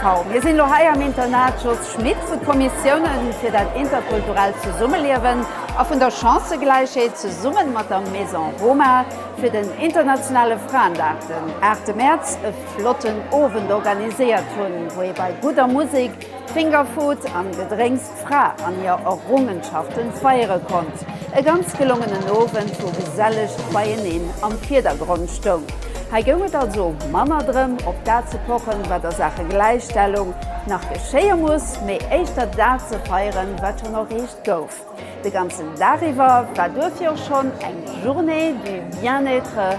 Kaum. Mir sinn elo hei am Internat Jos Schmit, wou d'Kommissioune fir dat interkulturellt Zesummeliewen a vun der Chancëgläichheet zesummen mat der Maison Roma fir den internationale Fraendag den 8 Mäerz e flotten Owend organiséiert hunn, wou ee bei gudder Musik, Fingerfood an Gedrénks Fra an hir Errungenschaften feiere konnt. E ganz gelongenen Owend, wou gesellecht Beieneen am Virdergrond stoung. Hei goung et also manner drëm, op dat ze pochen, wat a Saache Gläichstellung nach geschéie muss, mee éischter dat ze feieren, wat schonn erreecht gouf. De ganzen Dag iwwer war duerfir och schonn eng Journée du Bien-être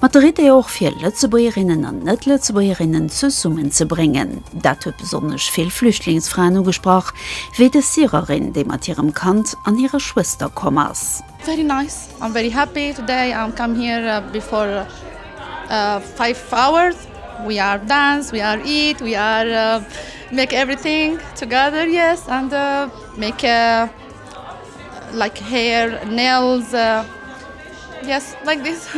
Mat der Idee och fir Lëtzebuergerinnen an Net-Lëtzebuergerinnen zesummen ze bréngen. Dat huet besonnesch vill Flüchtlingsfraen ugesprach, wéi dës Syrerin, déi mat hirem Kand an hirer Schwëster komm ass. Very nice, I'm very happy today, I come here before five hours, we are dance, we are eat, we are make everything together, yes, and make like hair, nails. Yes, like this.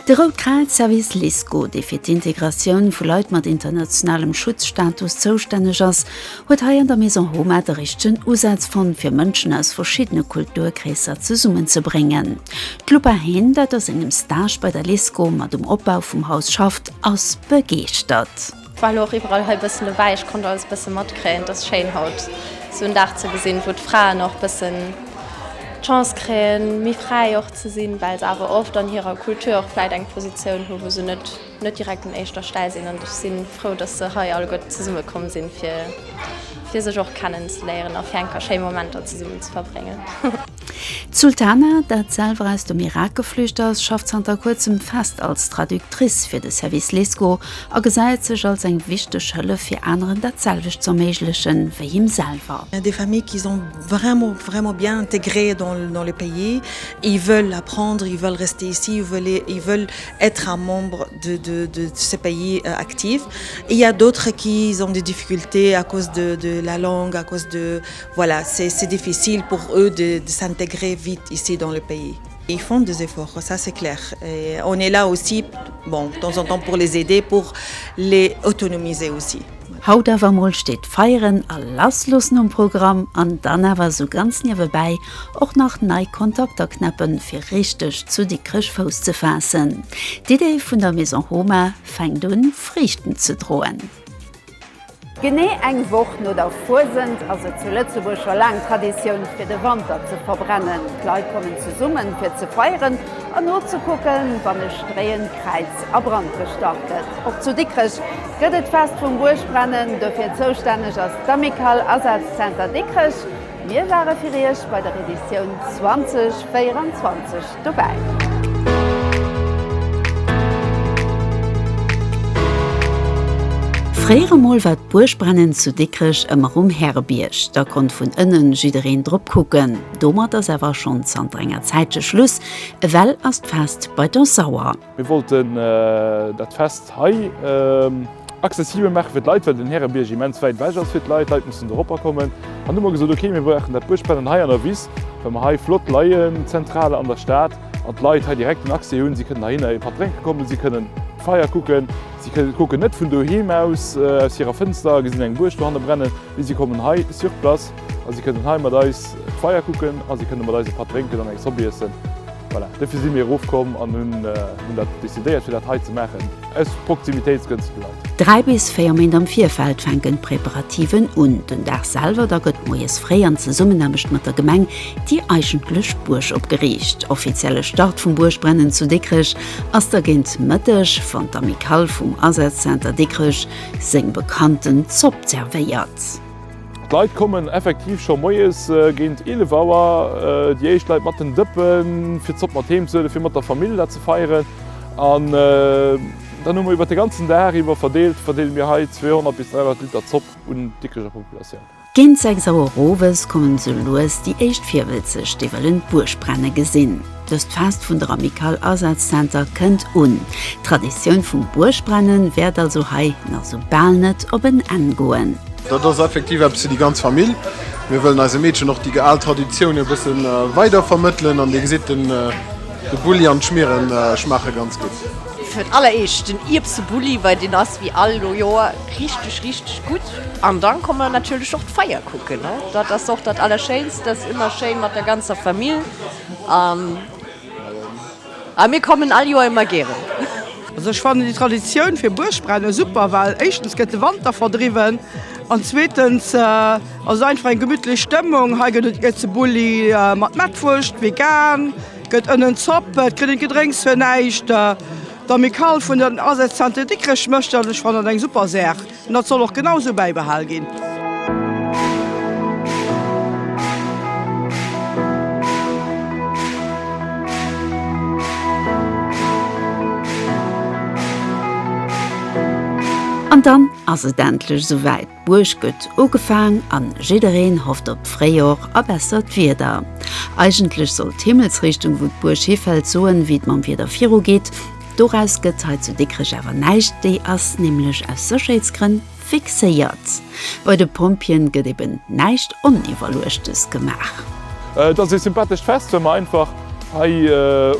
De Rout-Kräiz-Service LISCO, dee fir d'Integratioun vu Leit mat internationalem Schutzstatus zoustänneg ass, huet hei an der Maison Homa de richtegen Usaz fonnt, fir Mënschen aus verschiddene Kulturkreesser zesummenzebréngen. D'Lupa Hehn, dat a sengem Stage bei der LISCO mat um Opbau vum Haus schafft, ass begeeschtert. War lo och iwwerall hei bëssen dobäi, ech konnt alles bëssen matkréien. Et ass schéin haut sou en Dag ze gesinn wou d'Fraen och bëssen d'Chance kréien méi fräi och ze sinn, well se awer oft an hirer Kultur och vläit eng Positioun hu wou se net net direkt un éischter Stell sinn. An ech si frou dass se hei alleguerte zesumme komm sinn fir fir sech och kennen ze léieren a fir eng Kéier schéi Momenter zesummen ze verbréngen. D'Sultana, dat selwer aus dem Irak geflücht ass, schafft zanter kuerzem fest als Traductrice fir de Service LESCO a gesäit sech als eng wichteg Hëllef fir aneren dat selwecht z'erméigleche wéi him selwer. Des familles qui sont vraiment vraiment bien intégrées dans le pays, ils veulent apprendre, ils veulent rester ici, ils veulent ils veulent être un membre de de de ce pays actif, il y a d'autres qui ont des difficultés à cause de de la langue, à cause de Voilà, c'est difficile pour eux de s'intégrer vite ici dans le pays. Ils font des efforts, ça c'est clair, et on est là aussi, bon, de temps en temps pour les aider, pour les autonomiser aussi. Haut awer emol steet Feieren a Lassloossen um Programm an dann awer esou ganz niewebäi och nach nei Kontakter knäppen, fir richteg zu Dikrech Fouss ze faassen. D'Idee vun der Maison Homa fänkt un, Friichten ze droen. Genee eng Woch no der Fuesent ass et zu Lëtzebuerg scho laang Traditioun, fir de Wanter ze verbrennen. D'Leit kommen zesummen, fir ze feieren an nozekucken, wann e stréiend Kräiz a Brand gestach gëtt. Och zu Dikrech gëtt et d'Fest vum Buergbrennen. Dofir zoustänneg ass d'Amicale Asazenter Dikrech. Mir ware fir Iech bei der Editioun 2024 dobäi. Fréier emol war d'Buergbrennen zu Dikrech ëmmer um Härebierg, da konnt vun ënnen jiddereen drop kucken. Domat ass awer schonn zanter enger Zäitche Schluss, ewell ass d'Fest bei der Sauer. Mir wollten dat Fest hei accessibel maache fir d'Leit, well den Härebierg immens wäit ewech ass fir d'Leit. D'Leit mussen dorobber kommen. An du hu mer gesot, ok, mir brauchen dat Buergbrennen hei an der Wiss, well mer hei flott leien, zentral an der Stad, an d'Leit hei direkt den Accès hunn. Si kënnen heihinner ee Patt drénke kommen, si kënnen d'Feier kucken, si kucken net vun doheem aus, aus hirer Fënster a gesinn eng Buerg dohanne brennen, mee si kommen hei sur place a si kënnen hei mat eis d'Feier kucken a si kënnen mat eis e Patt drénken an eng Zopp iessen. Voilà, dofir si mir erof komm an hunn dat decidéiert fir dat hei ze maachen, aus Proximitéitsgrënn zu de Leit. Dräi bis véier Méint am Virfeld fänken d'Preparativen un. Den Dag selwer da gëtt moies fréi an Zesummenaarbecht mat der Gemeng déi eigentlech Buerg opgeriicht. Offizielle Start vum Buergbrennen zu Dikrech ass da géint Mëtteg, wann d'Amicale vum Asazenter Dikrech seng Bekannten zobservéiert. D'Leit kommen effektiv scho moies géint 11 Auer, déi éischt Leit mat den Dëppen, fir d'Zopp mat heem ze huelen, fir mat der Famill dat ze feieren. An dann hu mer iwwer de ganzen Dag iwwer verdeelt, verdeele mir hei 200 bis 300 Liter Zopp un d'Dikricher Populatioun. Géint 6 Auer owes kommen esou lues déi éischt Virwëlzeg, déi wëllen d'Buergbrennen gesinn. Dëst Fest vun der Amicale Asazzentre kënnt un. D'Traditioun vum Buergbrennen wäert also hei nach esou bal net op en Enn goen. Dat ass effektiv eppes fir déi ganz Famill. Mir wëllen eise Meedchen och déi al Traditioune e bësse weider vermëttelen. An Dir gesitt, de Bulli an d'Schmiere schmaache ganz gutt. Fir d'alleréischt den Ierbsebulli, well deen ass wéi all Joer richteg, richteg gutt. An da komme mer natierlech och d'Feier kucken. Dat ass och dat Allerschéinst, dat ass ëmmer schéin mat der ganzer Famill. A mir kommen all Joer ëmmer gären. Also ech fannen déi Traditioun fir Buergbrennen super, well éischtens gëtt de Wanter verdriwwen an zweetens ass et einfach eng gemütlech Stëmmung. Hei gëtt et Ierzebulli mat Mettwurscht, vegan, gëtt ënnen Zopp, et kritt een Gedrénks fir näischt. D'Amicale vun den Asätz Zenter Dikrech mécht dat an ech fannen dat eng super Saach. An dat soll och genau esou bäibehal ginn. An dann ass et endlech esou wäit, d'Buerg gëtt ugefaang an jiddereen hofft op d'Fréijor a bessert Wieder. Eigentlech soll d'Himmelsrichtung wou d'Buerg hifält soen wéi et mam Wieder virugeet, Doraus gëtt hei zu Dikrech awer näischt, déi ass nämlech aus Sécherheetsgrënn fixéiert. Bei de Pompjeeën gëtt eben näischt Oniwwerluechtes gemaach. Et ass ee sympathescht Fest, well mer einfach hei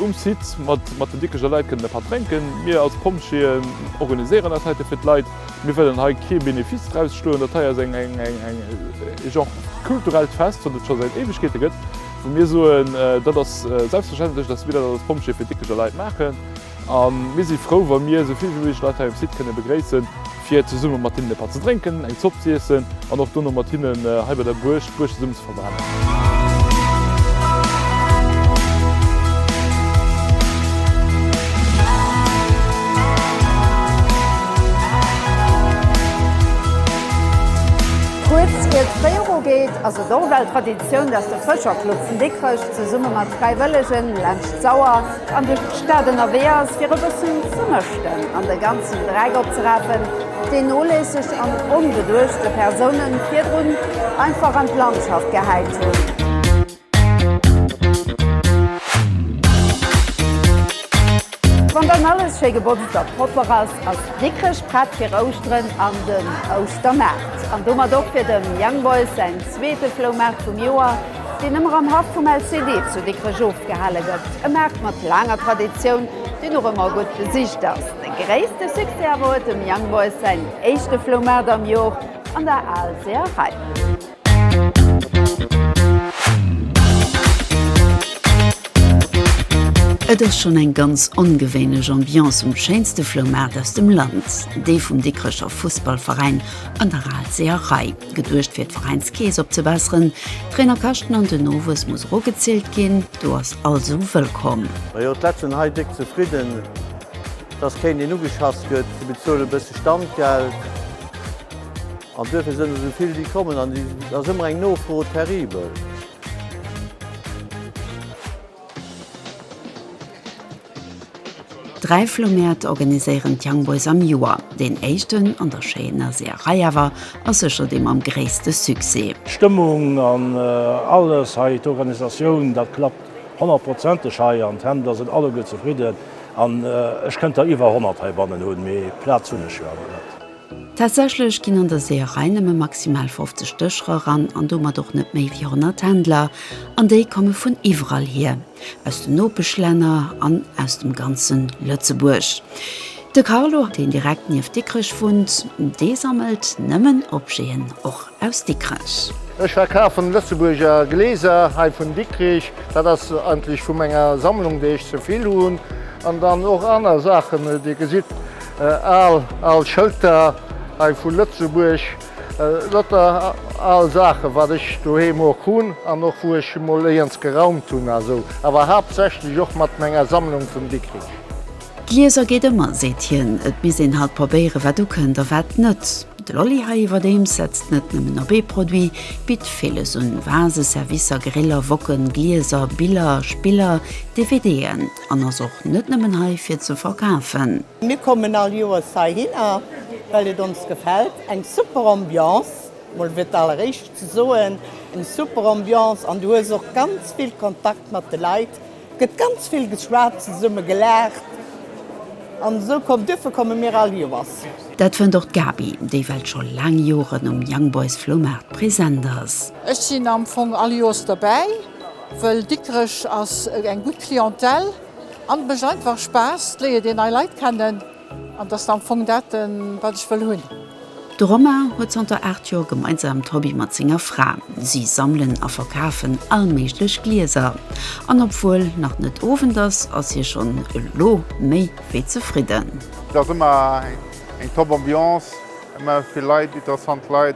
um Site mat den Dikrecher Leit kënnen e Patt drénken. Mir als Pompjeeën organiséieren dat heite fir d'Leit. Mir wëllen hei kee Benefice draus schloen. Dat hei ass e Genre kulturellt Fest, wat et scho säit Éiwegkeete gëtt. Wou mir soen, dat ass selbstverständlech, dass mir dat als Pompjeeë fir Dickecher Leit maachen. A mir si frou, wa mir esou vill wéi méiglech Leit hei um Site kënne begréissen, fir zesumme mat hinnen e Patt ze drénken, eng Zopp z'iessen an och dono mat hinnen hei bei der Buerg d'Buerg zesumme ze verbrennen. Kuerz ier d'Féierung geet, ass et och ewell Traditioun, D'Aktioun, dass de Fëscherclub vun Dikrech zesumme mat Fräiwëllegen laanscht d'Sauer an duerch d'Stad ënnerwee ass, fir e bëssen ze mëschten an de ganzen Dreck opzerapen, deen noléisseg an onbeduechte Persounen virdrun einfach an d'Landschaft gehäit hunn. Wann dann alles schéi gebotzt a propper ass, ass Dikrech prett fir Ouschteren an den Ouschtermaart an domat och fir dem Young Boys säin Zweete Floumaart vum Joer, deen ëmmer am Haff vum LCD zu Dikrech ofgehale gëtt. E Maart mat laanger Traditioun, deen och ëmmer gutt besicht ass. De gréisste Succès awer huet dem Young Boys säin éischte Floumaart am Joer an der Aalseerei. Et ass schonn eng ganz ongewéinlech Ambiance um schéinste Floumaart aus dem Land, déi vum Dikrecher Fussballveräin an der Aalseerei. Geduecht fir d'Veräinskeess opzebesseren. D'Trainer kaschten an den Nowuess muss och ugezielt ginn. Du ass all sou wëllkomm. Majo d'Leit sen hei déck zefridden dass kéint een ugeschass gëtt. Si bezuelen bësse Standgeld an duerfir sen esou vill déi kommen an et ass ëmmer eng Nofro terrible. Dräi Floumäert organiséieren d'Young Boys am Joer. Deen éischten, an der schéiner Seeërei awer, ass sécher dee mam gréisste Succès. D'Stëmmung an alles hei, d'Organisatioun, dat klappt honnertprozenteg hei an d'Händler sinn alleguer zefridden. An ech kënnt der iwwer honnert heibannen hunn, mee Plaz hunn ech jo awer net. Tatsächlech ginn an der Seeërei nëmme maximal 50 Dëscherer ran an domat och net méi wéi 100 Händler, an déi komme vun iwwerall hier, aus den Nopeschlänner an aus dem ganze Lëtzebuerg. De Carlo, deen direkt nieft Dikrech wunnt, dee sammelt nëmmen Objeten. Och Aus Dikrech. Ech verkafen Lëtzebuerger Gläser hei vun Dikrich. Dat ass eigentlech vu menger Sammlung déi ech zevill hunn. An dann och aner Saachen. Dir gesitt al al Schëlter hei vu Lëtzebuerg. Lauter al Saachen wat ech doheem och hunn an och wou ech emol éierns geraumt hunn a sou. Awer haaptsächlech och mat menger Sammlung vun Dikrich. D'Lieser geet ëmmer, seet hien. Et misst een halt probéiere wat ukënnt a wat net. De Lolli hei iwwerdeems setzt net nëmmen op ee Produit, bitt villes un, Vase, Servicer, Griller, Woken, Glieser, Biller, Spiller, DVDen, an ass och net nëmmen hei fir ze verkafen. Mir kommen all Joers heihinner, well et ons gefält. Eng super Ambiance, mol fir d'alleréischt ze soen, eng super Ambiance an du hues och ganz vill Kontakt mat de Leit. Gëtt ganz vill geschwat, zesumme gelaacht an esou komm. Duerfir komme mir all Joers. Dat fënnt och d'Gaby, déi well scho laang Joren um Young Boys Floumaart present ass. Ech sinn am Fong all Joers derbäi, wëll Dikrech ass eng gutt Clientèle an et mécht einfach Spaass, et léiert een nei Leit kennen. An dat ass am Fong dat, wat ech wëll hunn. De Romain huet zanter 8 Joer gemeinsam d'Hobby mat senger Fra. Si sammelen a verkafen all méiglech Glieser. An obwuel nach net Owend ass, ass hie schonn elo méi wéi zefridden. Et ass ëmmer eng top Ambiance, ëmmer vill Leit, interessant Leit.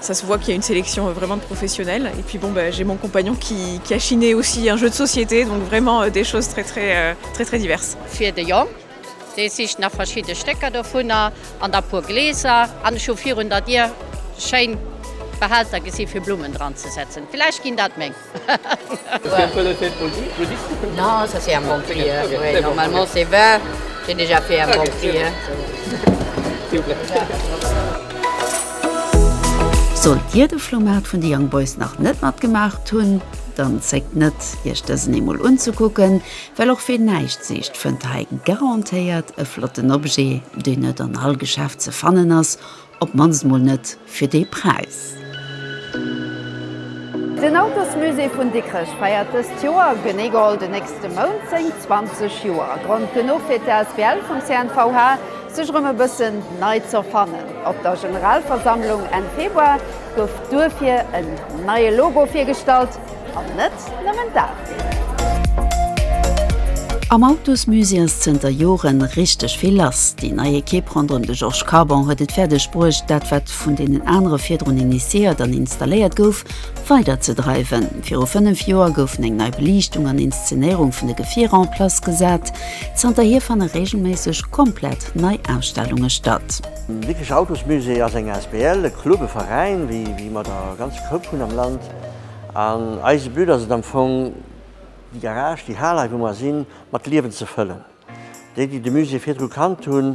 Ça se voit qu'il y a une sélection vraiment de professionnels et puis bon ben j'ai mon compagnon qui qui a chiné aussi un jeu de société donc vraiment des choses très très très très diverses. Fir de Jong, dee sicht nach verschidde Stécker dovunner an da puer Gläser an ech hu virun der Dier schéin Behälter gesi fir Blummen dran ze setzen, vielleicht ginn dat meng. Sollt dir de Flohmaart vun de Young Boys nach net matgemaacht hunn, dann zéckt net, iech dësen eemol unzekucken, well och ween näischt sicht, fënnt hei garantéiert e flotten Objet, deen net an all Geschäft ze fannen ass. Op d'mannst mol net fir dee Präis. Den Autosmusée vun Dikrech feiert dëst Joer, genee geholl den nächste Mount, seng 20 Joer. Grond genuch fir d'Asbl vum CNVH, sech erëm e bëssen nei z'erfannen. Op der Generalversammlung Enn Februar gouf duerfir en neie Logo virgestallt. An net nëmmen dat. Am Autosmusée ass zënter Joren richteg vill lass. Déi nei Ekipp ronderëm de Georges Carbon huet et fäerdeg bruecht, dat wat vun deenen anere virdrun initiéiert an installéiert gouf, weider ze dreiwen. Viru 5 Joer goufen eng nei Beliichtung an Inszenéierung vun de Gefierer en place gesat. Zanterhier fanne reegelméisseg komplett nei Ausstellunge statt. Den Dikrech Autosmusée ass eng asbl, e Club, e Veräin, wéi mer der ganz Koup hunn am Land. An eise But ass et am Fong, déi Garage, déi Hal hei wou mer sinn, mat Liewen ze fëllen. Déi, déi de Musée virdru kannt hunn,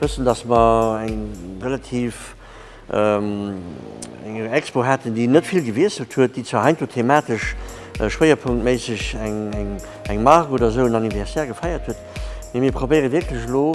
wëssen, dass mer eng relativ eng Expo haten, déi net vill gewiesselt huet, déi zwar heiansdo thematesch schwéierpunktméisseg eng Mark oder esou, en Anniversaire gefeiert huet, mee mir probéiere wierklech elo,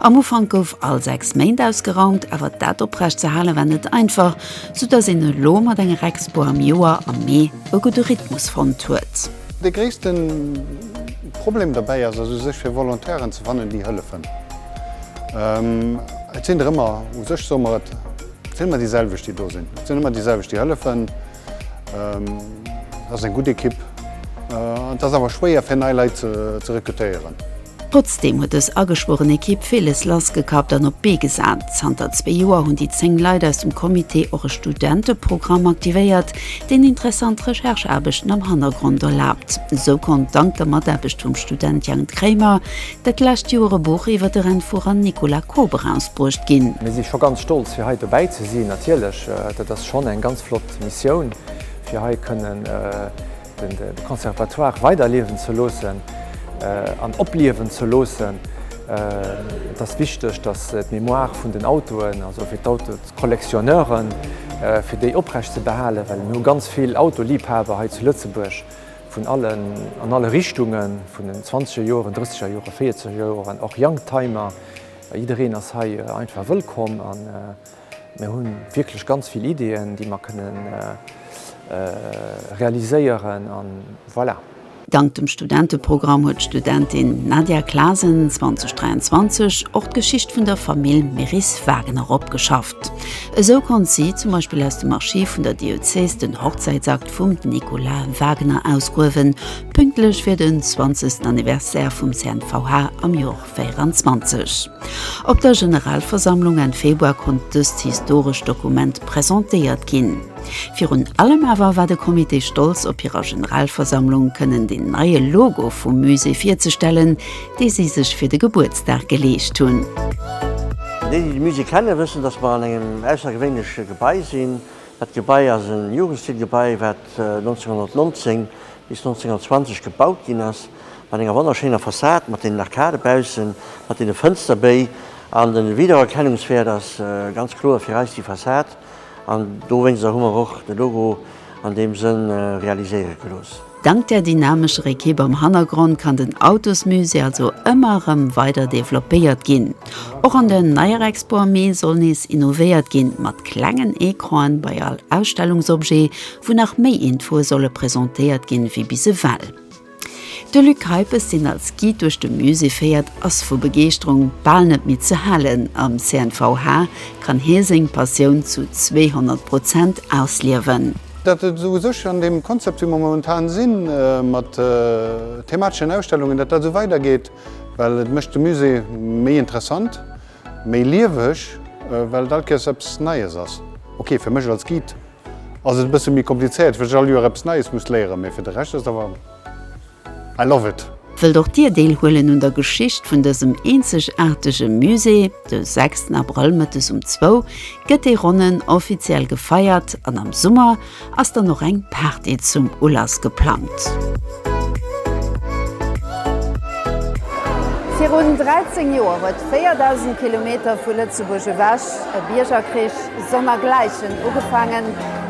Am Ufank gouf all 6 Méint ausgeraumt, awer dat oprecht ze halen war net einfach, sou dass een elo mat enger Expo am Joer am Mee e gudde Rhythmus fonnt huet. De gréisste Problem dobäi ass u sech fir Volontairen ze fannen déi hëllefen. Et sinn der ëmmer, u sech soe mer et sinn ëmmer déi selwecht déi do sinn, et sinn ëmmer déi selwecht déi hëllefen. Et ass eng gutt Ekipp an et ass awer schwéier fir nei Leit ze rekrutéieren. Trotzdeem huet dës ageschwueren Ekipp villes lassgekappt an op d'Bee gesat. Zanter zwee Joer hunn déi 10 Leit aus dem Comité och e Studenteprogramm aktivéiert, deen interessant Rechercheaarbechten am Hannergrond erlaabt. Esou konnt, dank der Mataarbecht vum Student Jang Kramer, dat lescht Joer e Buch iwwer de Rennfuerer Nicolas Koop erausbruecht ginn. Mir si scho ganz stolz fir hei dobäi ze sinn. Natierlech, dat ass schonn eng ganz flott Missioun, fir hei kënnen de Conservatoire weiderliewen ze loossen an opliewen ze loossen. Et ass wichteg, datt d'Mémoire vun den Autoen, also fir d'Autocollectionneuren, fir déi oprecht ze behalen, well mir hu ganz vill Autoliebhaber hei zu Lëtzebuerg vun allen, an alle Richtungen, vun den zwanzeger Joren, drësseger Joren, véierzeger Joren, och Youngtimer, jiddereen ass hei einfach wëllkomm. Mir hu wierklech ganz vill Ideeën, déi mer kënne realiséieren a voilà. Dank dem Studenteprogramm huet d'Studentin Nadia Clasen 2023 och d'Geschicht vun der Famill Meris-Wagener opgeschafft. Esou konnt si zum Beispill aus dem Archiv vun der Diözes den Hochzäitsakt vum Nicolas Wagener ausgruewen, pünktlech fir den 20. Anniversaire vum CNVH am Joer. 2024. Op der Generalversammlung Enn Februar konnt dëst historescht Dokument presentéiert ginn. Virun allem awer war de Comité stolz op hirer Generalversammlung kënnen den neie Logo vum Musée virzestellen, dee si sech fir de Gebuertsdag geleescht hunn. Déi, déi de Musée kenne wëssen, dass mer an engem aussergewéinleche Gebai sinn. Dat Gebai ass e Jugendstilgebai, wat 1919 bis 1920 gebaut ginn ass. mat enger wonnerschéiner Fassad, mat deenen Arcadë baussen, mat deene Fënsterbéi. An de Wiedererkennungswäert ass ganz kloer fir eis déi Fassad. An dowéinster hu mer och de Logo an deem Sënn realiséiere gelooss. Dank der dynamescher Ekipp am Hannergrond kann den Autosmusée also ëmmer erëm weider developpéiert ginn. Och an der neier Expo am Mee soll nees innovéiert ginn, mat klengen Ecranen bei all Ausstellungsobjet, wou nach méi Infoe solle presentéiert ginn, wéi bis ewell. De Luc Kuypes, deen als Guide duerch de Musée féiert, ass vu Begeeschterung bal net méi ze halen. Am CNVH kann hie seng Passioun zu 200 Prozent ausliewen. Dat et esou u sech an deem Konzept, wéi mer momentan sinn, mat themateschen Ausstellungen, datt dat esou weidergeet, well et mécht de Musée méi interessant, méi lieweg, well et all Kéiers eppes Neies ass. Ok, fir mech als Guide. Ass et e bësse méi komplizéiert, well ech all Joer eppes Neies muss léieren, mee fir de Rescht ass et awer, I love it! Wëllt och Dir deelhuelen un der Geschicht vun dësem eenzegaartege Musée? De 6 Abrëll mëttes um zwou gëtt dee Ronnen offiziell gefeiert an am Summer ass dann och eng Party zum Ulass geplangt. Virun 13 Joer huet 4.000 Kilometer vu Lëtzebuerg ewech E Biergerkrich sonnergläichen ugefaangen,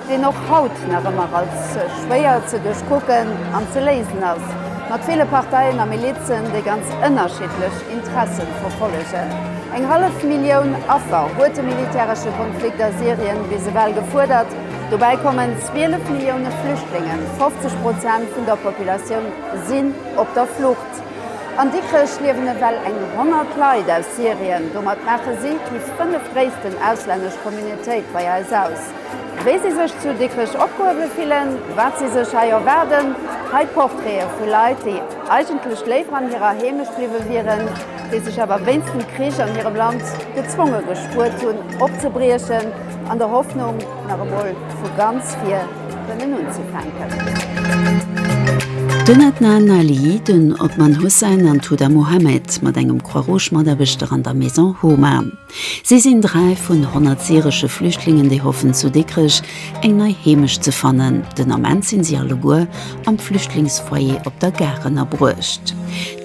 deen och haut nach ëmmer als schwéier ze duerchkucken an ze léisen ass, mat ville Parteien a Milizen, déi ganz ënnerschiddlech Interessen verfollegen. Eng hallef Millioun Affer huet de militäresche Konflikt a Syrien bis ewell gefuerdert. Dobäi kommen 12 Millioune Flüchtlingen, 50 Prozent vun der Populatioun sinn op der Flucht. An Dikrech liewen ewell eng 100 Leit aus Syrien. Domat maache si déi fënnef-gréissten auslännesch Communautéit bei eis aus. Wéi si sech zu Dikrech opgehuewe fillen, wat si sech hei erwaarden, hei d'Portraite vu Leit, déi eigentlech léiwer an hirer Heemecht bliwwe wieren, déi sech awer wéinst dem Krich an hirem Land gezwonge gespuert hunn opzebriechen, an der Hoffnung, nach emol vu ganz vir. Den Adnan Ali, den Othman Hussein an d'Huda Mohammed mat engem Croix-Rouge-Mataarbechter an der Maison Homa. Si sinn dräi vun honnert syresche Flüchtlingen, déi hoffen zu Dikrech eng nei Heemecht ze fannen. Den Ament sinn si alleguer am Flüchtlingsfoyer op der Gare ënnerbruecht.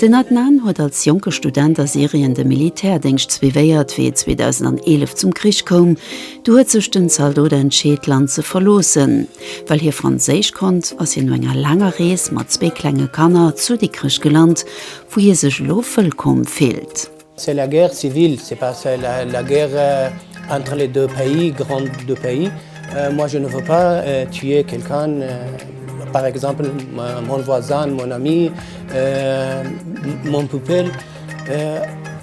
Den Adnan huet als jonke Student a Syrien de Militärdéngscht suivéiert, wéi et 2011 zum Krich koum. Du huet sech den Zaldot entscheet, d'Land ze verloossen. Well hie Franséisch konnt, ass hien no enger laanger Rees mat zwee klenge Kanner zu Dikrech gelant, wou hie sech elo wëllkomm fillt. C'est la guerre civile, c'est pas la guerre entre les deux pays, grands deux pays. Moi je ne veux pas tuer quelqu'un, par exemple mon voisin, mon ami, mon pupil.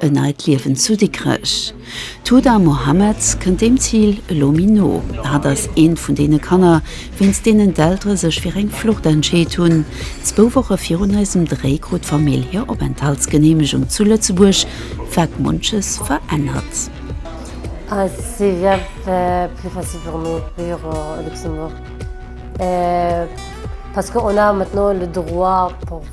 E neit Liewen zu Dikrech. D'Huda Mohammed kënnt deem Zil elo méi no. Hatt ass eent vun deene Kanner, wéinst deenen d'Eltere sech fir eng Flucht entscheet hunn. Zwou Woche virun eisem Dréi krut d'Famill hir Openthaltsgeneemegung zu Lëtzebuerg, wat munches verännert.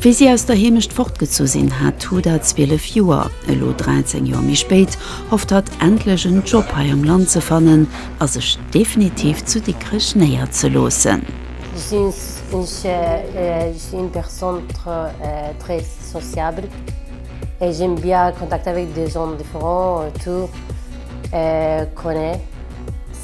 Wéi si aus der Heemecht fortgezu sinn, hat Huda 12 Joer. Elo 13 Joer méi spéit hofft hatt, endlech en Job hei am Land ze fannen a sech definitiv zu Dikrech néierzeloossen. Sinn ech eng Persoun très sociable et j'aime bien contact avec des gens différents autour qu'on est.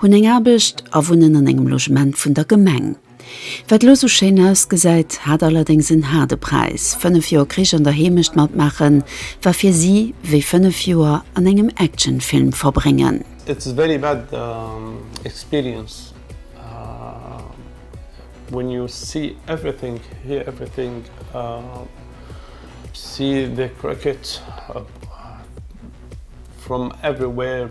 Hunn eng Aarbecht a wunnen an engem Logement vun der Gemeng. Wat elo esou schéin ausgesäit, hat allerdéngs en haarde Präis. Fënnef Joer Krich an der Heemecht matmaachen, war fir si wéi fënnef Joer an engem Actionfilm verbréngen. It's a very bad experience when you see everything, hear everything, see the cracked from everywhere.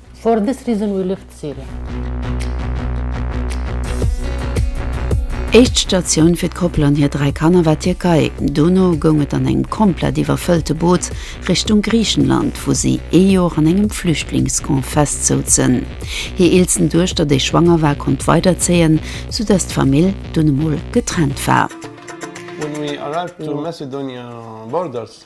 For this reason we left Syria. Éischt Statioun fir d'Koppel an hir dräi Kanner war d'Tierkei. Dono goung et an engem komplett iwwerfëllte Boot Richtung Griichenland, wou si ee Joer an engem Flüchtlingscamp festsouzen. Hir eelsten Duechter, déi schwanger war, konnt weiderzéien, soudatt d'Famill dunn emol getrennt war. When we arrived to Macedonia borders,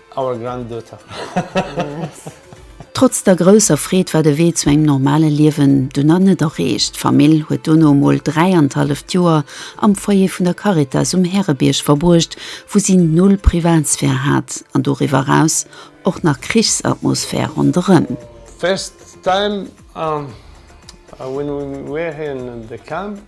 Our granddaughter. Trotz der grousser Freed war de Wee zu engem normale Liewen dunner net erreecht. D'Famill huet dono mol dräianenhalleft Joer am Foyer vun der Caritas um Härebierg verbruecht, wou si null Privatsphär hat an doriwwer eraus och nach Krichsatmosphär ronderëm. First time when we were here in the camp.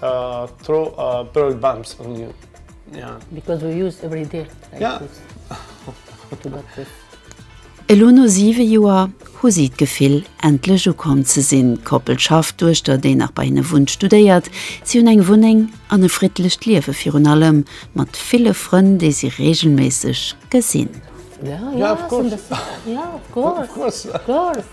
Throw a bird bumps on you, yeah. Because we use every day like this. Yeah. To get this. Elo no siwe Joer hu si d'Gefill, endlech ukomm ze sinn. D'Koppel schafft, d'Duechter, déi nach bei hinne wunnt, studéiert. Si hunn eng Wunneng an e friddlecht Liewe virun allem mat ville Frënn, déi si reegelméisseg gesinn. Yeah, yeah, of course. Yeah, of course. Of course. Of course.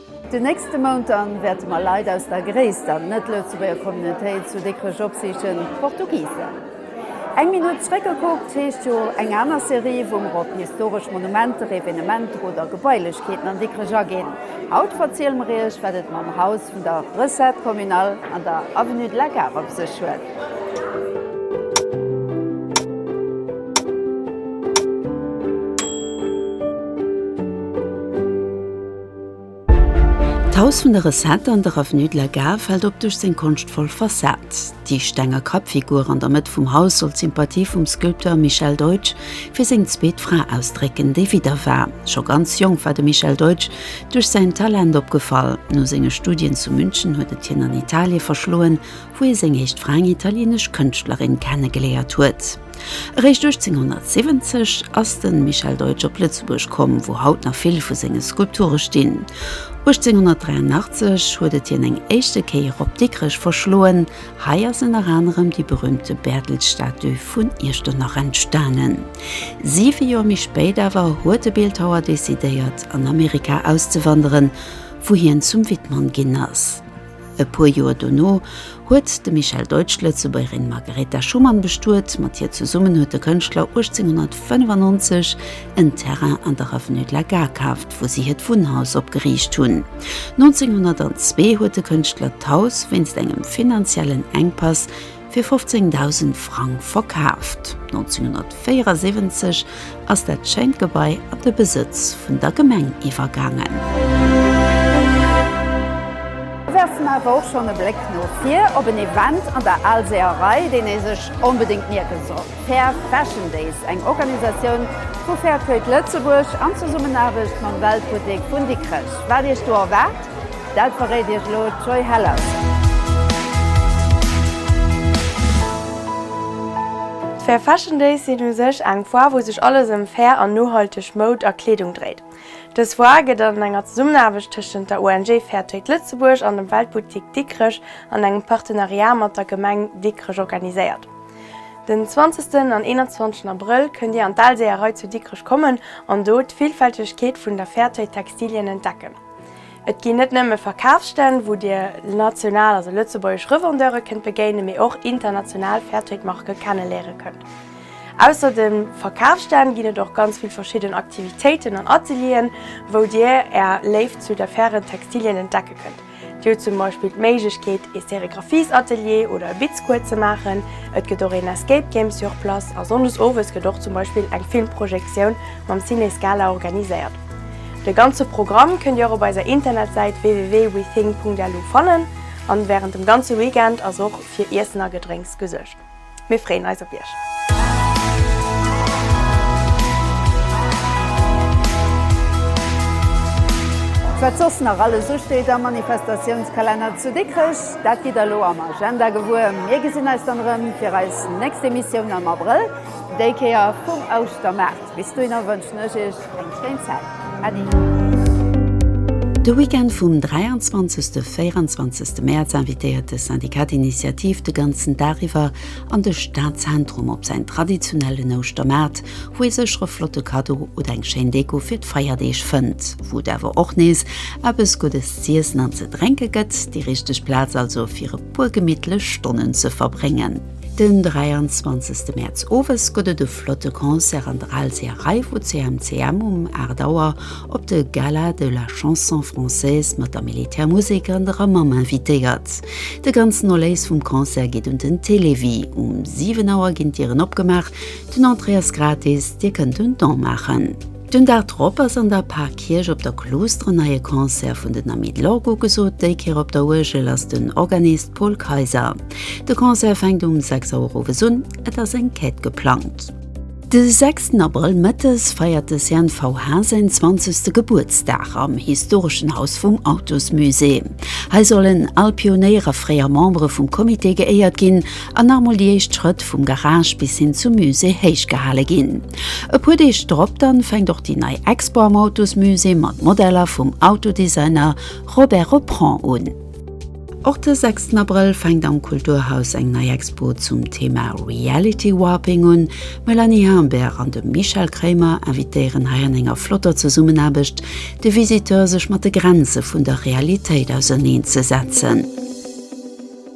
Den nächste Mount dann wäerte mer Leit aus der gréisster net-Lëtzebuerger Communautéit zu Dikrech opsichen, d'Portugisen. Eng Minutt zréckgekuckt heescht jo eng aner Serie, wou mer op historesch Monumenter, Evenementer oder Gebailechkeeten an Dikrech aginn. Haut verziele mer iech, wat et mam Haus vun der Recette communale an der Avenue de la Gare op sech huet. D'Haus vun der Recette an der Avenue de la Gare fält op duerch seng konschtvoll Fassad. Déi stenger Kappfigur an der Mëtt vum Haus soll d'Sympathie vum Sculpteur Michel Deutsch fir seng zweet Fra ausdrécken, déi Widder war. Scho ganz jonk war de Michel Deutsch duerch säin Talent opgefall. No senge Studien zu München huet et hien an Italie verschloen, wou hie seng éischt Fra, eng italieenesch Kënschtlerin, kennegeléiert huet. Eréischt 1870 ass de Michel Deutsch op Lëtzebuerg komm, wou haut nach vill vu senge Skulpture stinn. 1883 huet et hien eng éischte Kéier op Dikrech verschloen, hei ass ënner anerem déi berüümte Bäertelsstatue vun Iechternach entstanen. Siwe Joer méi spéit awer huet de Bildhauer decidéiert an Amerika auszewanderen, wou hien zum Wittmann ginn ass. E puer Joer dono huet de Michel Deutsch d'Lëtzebuergerin Margaretha Schumann bestuet. Mat hir zesummen huet de Kënschtler 1895 en Terrain an der Avenue de la Gare kaaft, wou si hiert Wunnhaus opgeriicht hunn. 1902 huet de Kënschtler d'Haus wéinst engem finanziellen Enkpass fir 15.000 Frang verkaaft. 1974 ass dat schéint Gebai an de Besëtz vun der Gemeng iwwergaangen. Mir werfen awer och schonn e Bléck no vir op en Event an der Alséerei, deen ee sech onbedéngt mierke soll, Fair Fashion Days, eng Organisatioun vu Fair Trade Lëtzebuerg an Zesummenaarbecht mam Weltbuttek vun Dikrech. Wat Iech do erwaart? Dat verréit iech elo d'Joy Heller. D'Fair Fashion Days sinn u sech eng Foire, wou sech alles ëm fair an nohalteg Moud a Kleedung dréit. Dës Foire gëtt an enger Zesummenaarbecht tëschent der ONG Fair Trade Lëtzebuerg an dem Weltboutique Dikrech an engem Partenariat mat der Gemeng Dikrech organiséiert. Den 20 en an 21 Abrëll kënnt Dir an d'Alséerei zu Dikrech kommen an do d'Villfältegkeet vun der Fairtrade Textilien entdecken. Et ginn net nëmme Verkafsstänn, wou Dir national, also lëtzebuergesch, Revendeure kënnt begéinen, mee och international Fairtrade-Marke kenneléiere kënnt. Ausser de Verkafsstänn ginn et och ganz vill verschidden Aktivitéiten an Atelieren, wou Dir Är Léift zu de fairen Textilien entdecke kënnt. Dir hutt zum Beispill d'Méiglechkeet, ee Sérigraphies-Atelier oder e Bitzcours ze maachen. Et gëtt och een Escape Game sur place a sonndes owes gëtt och zum Beispill eng Filmprojektioun mam Ciné Scala organiséiert. De ganze Programm kënnt Dir och op eiser Internetsäit www.wething.lu fannen an wärend dem ganze Weekend ass och fir Iessen a Gedrénks gesuergt. Mir freeën eis op Iech! Wat soss nach alles usteet am Manifestatiounskalenner zu Dikrech, dat gitt der elo am Agenda gewuer. Mir gesinn eis dann erëm fir eis nächst Emissioun am Abrëll, déi Kéier vum Ouschtermaart. Bis dohinner wënschen ech Iech. Wéinst deem Zell. Äddi. De Weekend vum 23 a 24 Mäerz invitéiert de Syndicat d'Initiative de ganzen Dag iwwer an de Stadzentrum op säin traditionellen Ouschtermaart, wou ee sécher e flotte Kaddo oder eng schéin Deko fir d'Feierdeeg fënnt, wou et awer och nees eppes Guddes z'iessen an ze drénke gëtt. Déi richteg Plaz also fir e puer gemittlech Stonnen ze verbréngen. Den 23 Mäerz owes gëtt et e. Flotte Concert an der Alseeërei vu CMCM um 8 Auer op de Gala de la Chanson française mat der Militärmusek an der Amam invitéiert. De ganzen Erléis vum Concert geet un den Télévie. Um 7 Auer ginn d'Dieren opgemaach. Den Entrée ass gratis, Dir kënnt un Don maachen. Den Dag drop ass an der Parkierch op der Kloustre en neie Concert vun den Amis de l'Orgue ugesot. Déi Kéier op der Uergel ass den Organist Paul Kayser. De Concert fänkt um 6 Auer owes un, et ass eng Quête geplangt. De 6 Abrëll mëttes feiert de CNV Haas säin 20. Gebuertsdag am historeschen Haus vum Autosmusée. Hei sollen al Pionéier a fréier Membere vum Comité geéiert ginn an nach mol déi éischt Schrëtt vum Garage bis hin zum Musée héich gehale ginn. E puer Deeg drop dann fänkt och déi nei Expo am Autosmusée mat Modeller vum Autodesigner Robert Reprend un. Och de sechsten Abrëll fänkt am Kulturhaus eng nei Expo zum Thema Reality Warping un. D'Mélanie Humbert an de Michel Kremer invitéieren hei an enger flotter Zesummenaarbecht de Visiteur sech mat de Grenze vun der Realitéit auserneen ze setzen.